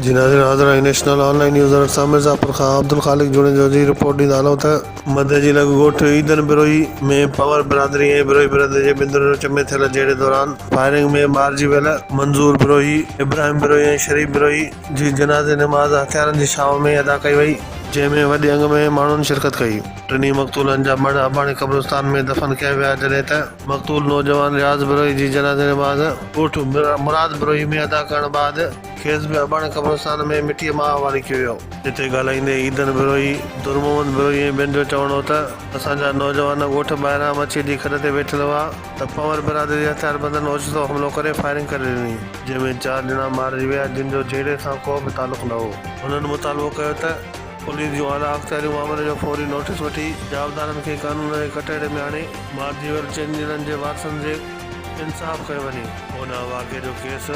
جي ناظرين حاضر آهيون national online news alert سان مرزاپور کان عبدالخالق جوڻيجو جي رپورٽ ڏيندا هلون ته مدئي جي لڳ ڳوٺ عيدن بروهي ۾ پنهور برادري ۽ بروهي برادري جي بندرن وچ ۾ ٿيل جهيڙي دوران فائرنگ ۾ مارجي ويل منظور بروهي، ابراهيم بروهي ۽ شريف بروهي جي جنازي نماز هٿيارن جي ڇانو ۾ ادا ڪئي وئي، جنهن ۾ وڏي انگ ۾ ماڻهن شرڪت ڪئي، ٽنهي مقتولن جا مڙهه اباڻي قبرستان ۾ دفن ڪيا ويا جڏهن ته مقتول نوجوان رياض بروهي جي جنازي نماز ڳوٺ مراد بروهي ۾ ادا ڪرڻ بعد کيس به اباڻي قبرستان ۾ مٽيء مان اواڙي ڪيو ويو. جتي ڳالهائيندي عيدن بروهي، درمحمد بروهي ۽ ٻين جو چوڻ هو ته اسان جا نوجوان ڳوٺ ٻاهران مڇيء جي کڏ تي ويٺل هئا ته پنور برادري جي هٿياربندن اوچتو حملو ڪري فائرنگ ڪري ڏني، جنهن ۾ چار ڄڻا مارجي ويا، جن جو جهيڙي سان ڪو به تعلق نه هو. هنن مطالبو ڪيو ته پوليس جون اعليٰ اختياريون معاملي جو فوري نوٽيس وٺي جوابدارن کي قانون جي ڪٽهڙي ۾ آڻي مارجي ويل چئن ڄڻن جي وارثن جي انصاف ڪيو وڃي. هن واقعي جو ڪيس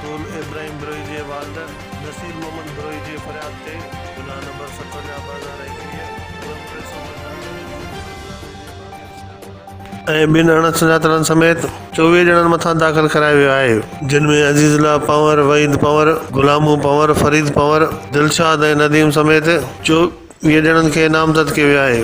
قول ابراهيم بروهي جي والد نصير محمد بروهي جي فرياد تي گناهه نمبر ستونجاهه ٻه هزار ايڪويهه ڪلم ٽي سؤ پنجاهه تحت ۽ ٻن اڻ سڃاتلن سميت چوويهه ڄڻن مٿان داخل ڪرايو ويو آهي جن ۾ عزيز الله پنور وحيد پنور غلامو پنور فريد پنور دلشاد ۽ نديم سميت چوويهه ڄڻن کي نامزد ڪيو ويو آهي.